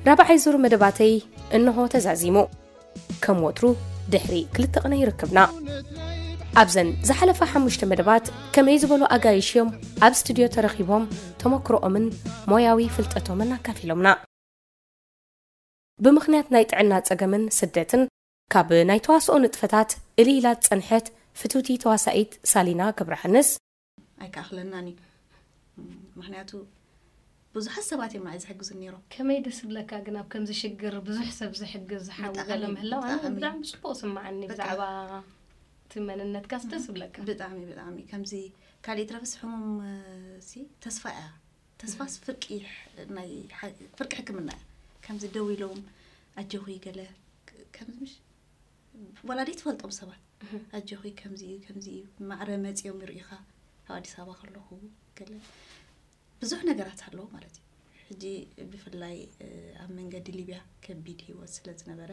ራብዓይ ዙር መደባተይ እንሆ ተዛዚሙ ከም ወትሩ ድሕሪ ክልተ ቕነ ይርክብና ኣብዘን ዝሓለፋ ሓሙሽተ መደባት ከመይ ዝበሉ ኣጋይሽ እዮም ኣብ ስትድዮ ተረኺቦም ተመክሮኦምን ሞያዊ ፍልጠቶምን ኣካፊሎምና ብምኽንያት ናይ ጥዕና ጸገምን ስደትን ካብ ናይ ተዋስኦ ንጥፈታት እልይ ኢላ ዝጸንሐት ፍትውቲ ተዋሳኢት ሳሊና ገብረሃንስ፣ ኣይክኣኽለናን እዩ ምኽንያቱ ብዙሓት ሰባት እዮም ንዓይ ዝሕግዙኒ ነይሮም። ከመይ ደስ ዝብለካ ግን ኣብ ከምዚ ሽግር ብዙሕ ሰብ ዝሕግዝ ሓው ገለ ምህላው ኣነ ብጣዕሚ ጽቡቕ ዝስምዓኒ ብዛዕባ እቲ መንነትካስ ደስ ዝብለካ። ብጣዕሚ ብጣዕሚ ከምዚ ካልእ ይትረፍስ ሕሙም ሲ ተስፋ እያ ተስፋስ ፍርቂ ናይ ፍርቂ ሕክምና እያ ከምዚ ደው ኢሎም ኣጆኺ ገለ ከምዚ ምሽ ወላዲ ትፈልጦም ሰባት ኣጆኺ ከምዚ እዩ ከምዚ እዩ ማዕረ መፅኦም ይርእኻ ኣብ ኣዲስ ኣበባ ከለኹ ገለ ብዙሕ ነገራት ኣለዎ ማለት እዩ ሕጂ ብፍላይ ኣብ መንገዲ ሊብያ ከቢድ ሂወት ስለ ዝነበረ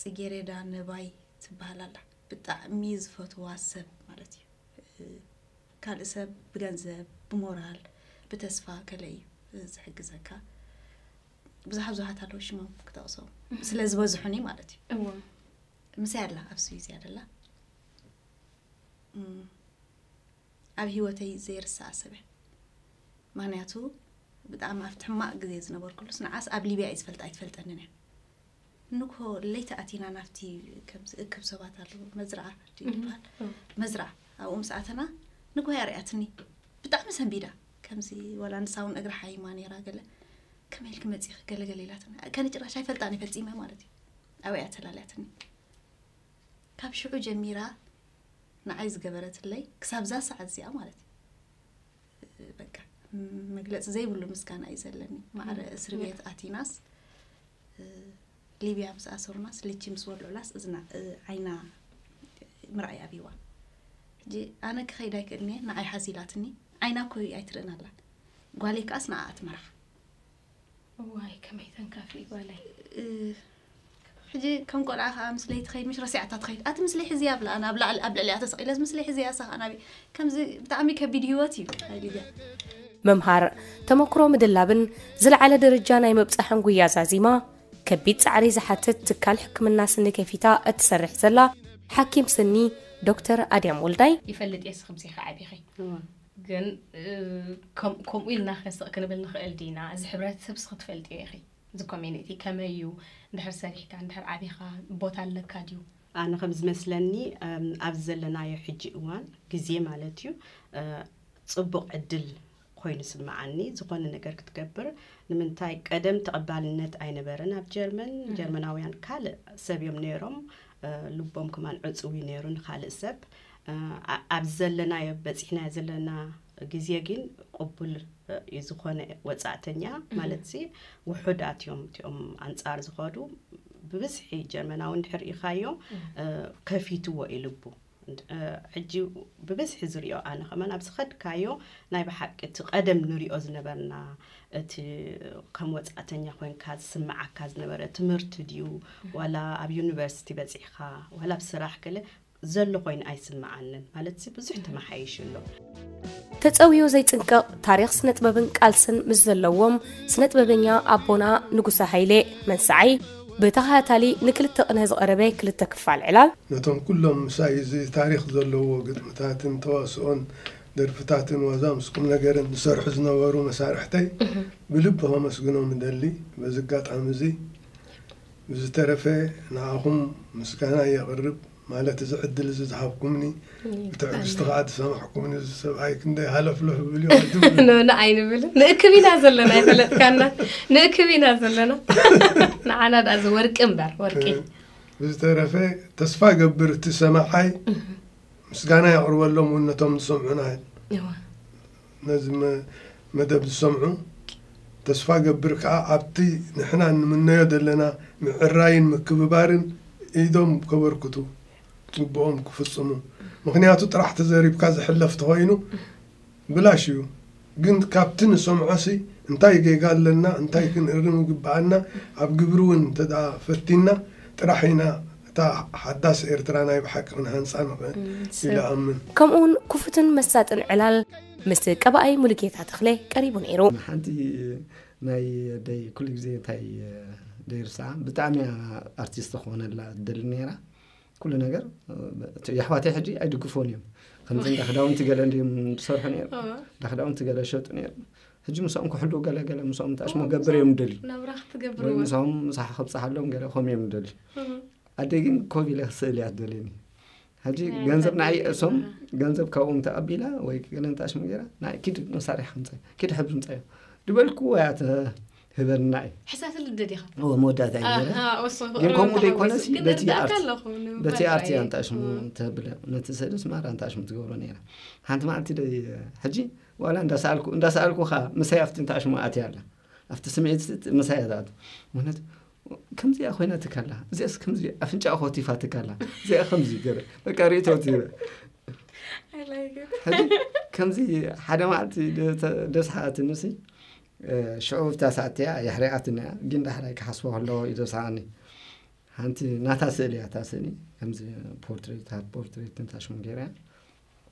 ፅጌሬዳ ነባይ ትበሃል ኣላ ብጣዕሚ ዝፈትዋ ሰብ ማለት እዩ ካልእ ሰብ ብገንዘብ ብሞራል ብተስፋ ገለ እዩ ዝሕግዘካ ብዙሓ ብዙሓት ኣለዉ ሽሞም ክጠቕሶም ስለ ዝበዝሑኒ ማለት እዩ ምሳይ ኣላ ኣብ ስዊዝ እያ ደላ ኣብ ሂወተይ ዘይርሳኣ ሰበ ምክንያቱ ብጣዕሚ ኣብቲ ሕማቅ ግዜ ዝነበርኩሉስ ንዓስ ኣብ ሊብያ እዩ ዝፈልጣ ኣይትፈልጠንን እያ ንግሆ ለይቲ ኣቲና ናብቲ ከም ዝእክብ ሰባት ኣለዉ መዝርዓ ድዩ ዝበሃል መዝርዓ ኣብኡ ምስ ኣተና ንግሆ ኣርኣያትኒ ብጣዕሚ ሰንቢዳ ከምዚ ወላ ንሳ እውን እግሪ ሓይማ ነይራ ገለ ከመይ ኢልኪ መፂኺ ገለገለ ኢላትኒ ከነ ጭራሽ ኣይፈልጣን እየ ፈፂመ ማለት እዩ ኣብይ ኣተላልያትኒ ካብ ሽዑ ጀሚራ ንዓይ ዝገበረትለይ ክሳብ ዛ ሰዓት እዚኣ ማለት እዩ በቃ መግለፂ ዘይብሉ ምስጋና እዩ ዘለኒ ማዕረ እስሪ ቤት ኣቲናስ ሊብያ ምስ ኣሰሩናስ ልቺ ምስ ወልዑላስ እዝና ዓይና ምርኣይ ኣብዋ ሕጂ ኣነ ክኸይድ ኣይክእልኒ ንዓይ ሓዚላትኒ ዓይና ኮይ ኣይትርእን ኣላ ጓለይ ከዓስ ንዓኣ ትመርሓ እዋይ ከመይ ተንካፊ ጓለይ ሕጂ ከም ቆልዓ ከዓ ምስለይ ትኸይድ ምሽ ረሲዓታ ትኸይድ ኣቲ ምስለይ ሕዚ ኣብላ ኣነ ኣብ ላዕሊ ኣብ ልዕሊኣ ተሰቂለስ ምስለይ ሕዚ ኣሳ ከዓ ናበይ ከምዚ ብጣዕሚ ከቢድ ህይወት እዩ ሃዲያ ምምሃር ተመክሮ ምድላብን ዝለዓለ ደረጃ ናይ ምብጻሕን ጉያ ዛዚማ ከቢድ ጻዕሪ ዝሓትት ትካል ሕክምና ስኒ ከፊታ እትሰርሕ ዘላ ሓኪም ስኒ ዶክተር ኣድያም ወልዳይ ይፈልጥ እየ ስኽምሲ ከዓቢኺ ግን ከምኡ ኢልናኸ ስቕ ክንብል ንኽእል ዲና? እዚ ሕብረተሰብ እስኺ ትፈልጥዮ ኢኺ፣ እዚ ኮሚኒቲ ከመይ እዩ፣ እንድሕር ሰሪሕካ፣ እንድሕር ዓቢኻ ቦታ ኣለካ ድዩ? ኣነ ከም ዝመስለኒ ኣብዚ ዘለናዮ ሕጂ እዋን ግዜ ማለት እዩ ጽቡቕ ዕድል ኮይኑ ይስምዓኒ ዝኾነ ነገር ክትገብር ንምንታይ ቀደም ተቐባልነት ኣይነበረን ኣብ ጀርመን ጀርመናውያን ካልእ ሰብ እዮም ነይሮም ልቦም ከማን ዕጽው እዩ ነይሩ ንካልእ ሰብ ኣብዚ ዘለናዮ በጺሕናዮ ዘለና ግዜ ግን ቅቡል እዩ ዝኾነ ወጻእተኛ ማለት ሲ ውሑዳት እዮም እቲኦም ኣንጻር ዝኸዱ ብብዝሒ ጀርመናዊ እንድሕር ርኢኻዮ ከፊትዎ ኢልቡ ሕጂ ብብዝሒ ዝርዮ ኣነ ከመን ኣብ ዝኸድካዮ ናይ ብሓቂ እቲ ቀደም ንሪኦ ዝነበርና እቲ ከም ወፃእተኛ ኮንካ ዝስምዓካ ዝነበረ ትምህርቲ ድዩ ዋላ ኣብ ዩኒቨርሲቲ በፂሕኻ ዋላ ኣብ ስራሕ ገለ ዘሎ ኮይኑ ኣይስምዓንን ማለትሲ ብዙሕ ተመሓይሹ ኣሎ። ተጸውዮ ዘይጽንቀቕ ታሪኽ ስነጥበብን ቃልስን ምስ ዘለዎም ስነጥበበኛ ኣቦና ንጉሰ ሃይሌ መንሰዓይ ብተኸታታሊ ንክልተ ቅነ ዝቐረበ ክልተ ክፋል ዕላል፣ ነቶም ኩሎም ምስ ኣይዚ ታሪኽ ዘለዎ ግጥምታትን ተዋስኦን ደርፍታትን ዋዛ ምስ ቁምነገርን ዝሰርሑ ዝነበሩ መሳርሕተይ ብልቢ ከመስግኖም እደሊ። በዚ ኣጋጣሚዚ ብዝተረፈ ንዓኹም ምስጋናይ የቕርብ ማለት እዚ ዕድል እዚ ዝሃብኩምኒ ብትዕግስቲ ከኣ ዝሰማዕኩምኒ እዚ ሰብኣይ ክንደይ ሃለፍለፍ ይብል እዩ ኣይትብሉ ንብላ ኣይንብልን ንእክብ ኢና ዘለና ይፈለጥካና ንእክብ ኢና ዘለና ንዓና ድኣ እዚ ወርቂ እምበር ወርቂ ብዝተረፈ ተስፋ ገብር እቲ ሰማዓይ ምስጋና የቕርበሎም እውን ነቶም ዝሰምዑና ነዚ መደብ ዝሰምዑ ተስፋ ገብር ከኣ ኣብቲ ንሕና እንምነዮ ዘለና ምዕራይን ምክብባርን ኢዶም ከበርክቱ ግቡኦም ክፍጽሙ ምክንያቱ ጥራሕ ተዘሪብካ ዝሕለፍ ተኮይኑ ብላሽ እዩ ግን ካብቲ ንሰምዖሲ እንታይ ጌጋ ኣለና እንታይ ክንእርም ይግብኣና ኣብ ግብሪ ውን እንተ ፈቲና ጥራሕ ኢና እታ ሓዳስ ኤርትራ ናይ ብሓቂ ክንሃንጻ ንኽእል ኢለ እኣምን። ከምኡውን ክፉትን መሳጥን ዕላል ምስ ቀባኣይ ሙሉጌታ ተኽለ ቀሪቡ ነይሩ። ሓንቲ ናይ ኣደይ ኩሉ ግዜ እንታይ ደይርስዓ ብጣዕሚ እያ ኣርቲስት ክኾነላ ትደሊ ነይራ ኩሉ ነገር የሕዋተይ ሕጂ ኣይድግፎን እዮም ከምዚ እንዳ ክዳውንቲ ገለ እንድዮም ዝሰርሑ ነይሮም እንዳ ክዳውንቲ ገለ ይሸጡ ነይሮም ሕጂ ምሳኦም ክሕሉ ገለ ገለ ምሳኦም ተኣሽሞ ገብር እዮም ደሊ ወይ ምሳኦም ምሳሕ ክብፅሓሎም ገለ ከምኡ እዮም ደሊ ኣደ ግን ኮብ ኢለ ክስእል እያ ትደልየኒ ሕጂ ገንዘብ ንዓይ እሶም ገንዘብ ካብኦም ተቐቢላ ወይ ገለ እንተኣሽሞ ገይራ ንዓይ ኪድ መሳርሒ ክምፀ ኪድ ሕብሪ ምፀ ድበልኩ እያ ህበና እዩ ሕሳት ልደድ ኢኻ መወዳእታ እዩ ግን ከምኡ ዘይኮነስ በቲ ኣርቲ ኣንታሽሙ ተብለ ነቲ ስእልስ ማራ ኣንታሽሙ ትገብሮ ነራ ሓንቲ መዓልቲ ሕጂ ዋላ እንዳ ሰኣልኩ እንዳ ሰኣልኩ ከኣ ምሳይ ኣብቲ እንተ ኣሽሙ ኣትያ ኣላ ኣብቲ ስምዒት ምሳይ እያ ትኣቱ ምክንያቱ ከምዚኣ ኮይና ትካላ እዚኣስ ከምዚ ኣፍንጫ ኮቲፋ ትካላ እዚኣ ከምዚ ገረ በቃ ርእቶ ከምዚ ሓደ መዓልቲ ደስሓትኒ ሲ ሽዑ ብታ ሰዓትያ የሕሪቃትኒ እያ ግን ዳሕራይ ክሓስቦ ከለዎ እዩ ደስሓኒ ሓንቲ ናታ ስእሊ እያ እታ ስእሊ ከምዚ ፖርትሬት ሃብ ፖርትሬት ንታሽሙ ገይራ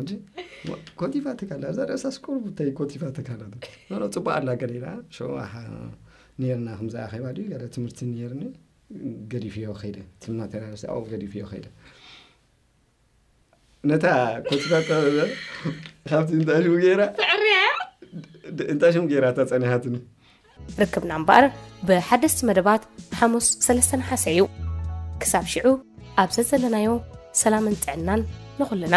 እንጂ ኮቲፋ ትካላ እዛ ርእሳስ ቁርብተይ ኮቲፋ ትካላ ኖሮ ፅቡቅ ኣላ ገለ ኢላ ሸዋሓ ነርና ከምዚ ኣኼባ ድዩ ገለ ትምህርቲ ነርኒ ገዲፍዮ ከይደ እቲ ማቴሪያል ኣብኡ ገዲፍዮ ከይደ ነታ ኮቲፋ ካብቲ እንታይ ሽሙ ገይራ እንታይ ሽሙ ገይራ እታ ፀኒሓትኒ ርክብና እምበኣር ብሓደስቲ መደባት ሓሙስ ሰለስተ ነሓሰ እዩ ክሳብ ሽዑ ኣብ ዘዘለናዮ ሰላምን ጥዕናን ንኹልና